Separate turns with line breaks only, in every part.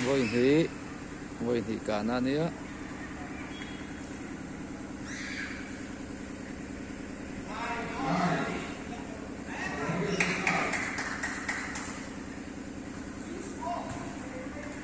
Vawihnih, vawihnih kan a nia.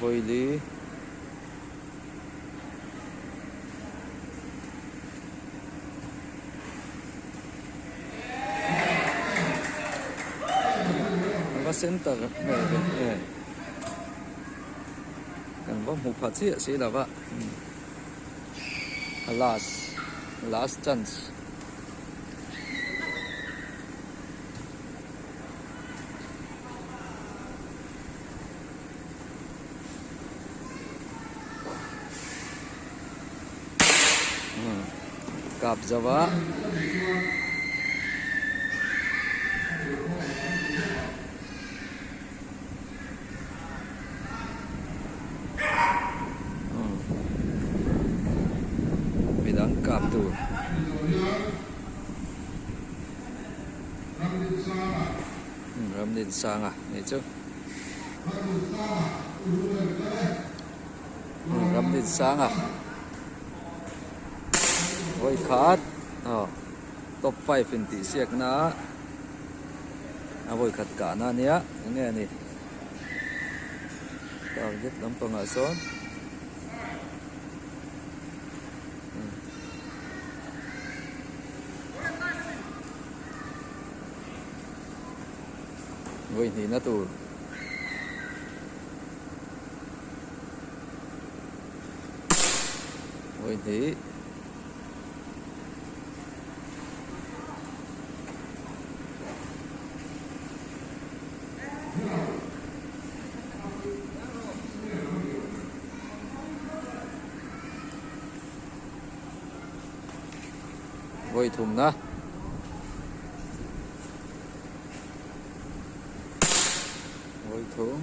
Gawili Kan va center ve ve e Kan va hmu pha chiah si lova A last last chance kap zau a midang kap tur. Ramdinsanga ni chu Ramdinsanga hawi khat aw top five in tih siak na a hawi khat kah na nia eng nge ni target lampanga sawn Vawihnihna tur Vawihnih vawithumna vawithum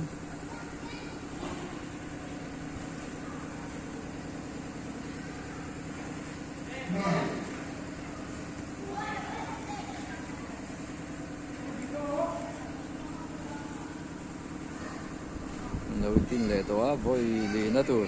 lo tin leh tawh a vawi lihna tur.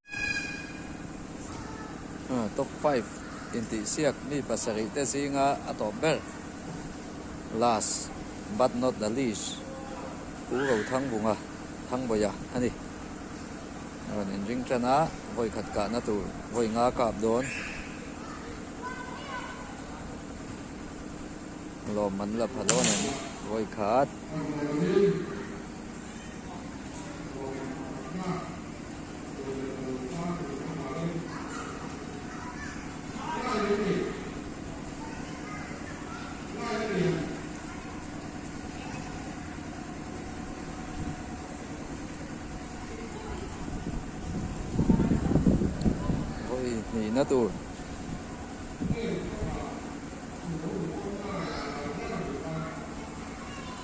Top five intihsiak mi pasarih te zinga a tawp ber. Last but not the least Pu Rothangvunga, Thangvawiha, a ni. A rawn inring tan a, vawi khat kahna tur vawi nga kap dawn. Lawm man la pha dawn em vawi khat. hnihna tur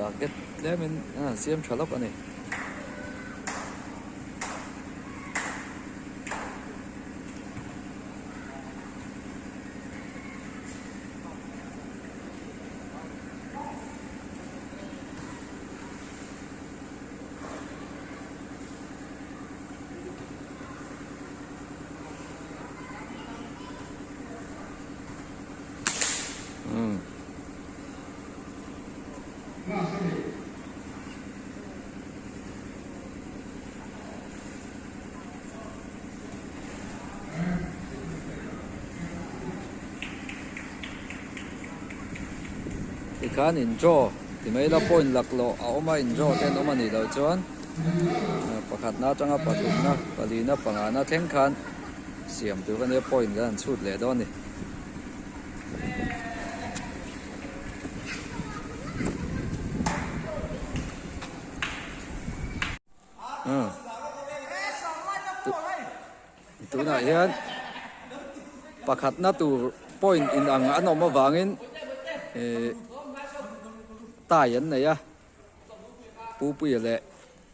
target tlem in a han siam tha lawk a ni. tikhan in draw ti mai la point lak lawh a awm a in draw te an awm a nih loh chuan pakhat na atanga pathum na pali na panga na thleng khan siam tur a nia point an chhut leh dawn a ni. tunah hian pakhatna tur point in ang an awm avangin tie an nei a pupuia leh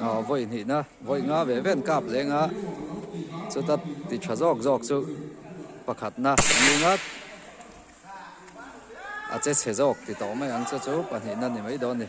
Aw vawi hnihna vawi nga ve ve an kap leng a chuta ti tha zawk zawk chu pakhatna ni ngat a che chhe zawk ti tawh mai ang che chu pahnihna ni mai dawn ni.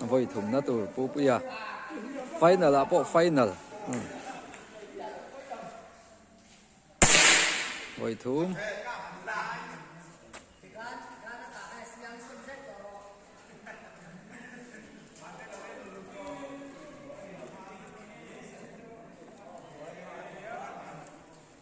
Vawi thumna tur pupuia final ah pawh final vawi thum.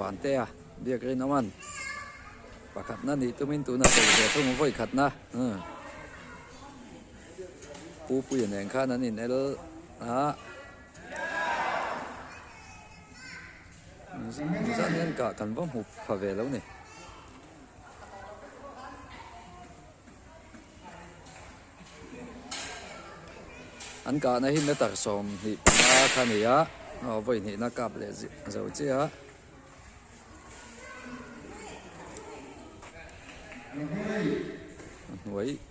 van te a biak rin awm an pakhatna nih tumin tuna vawikhatna. Pu Puia nen khan an in el a. Nizan hian kah kan va hmu pha ve lo ni. An kah na hi meter sawm hnih panga kha ni a. Aw vawi hnih na kap leh zo chiah a. Hnuai.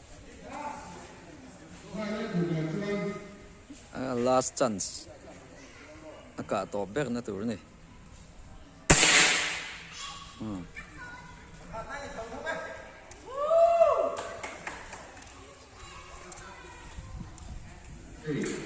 last chance a kah tawp ber na tur ni hmm. Hey.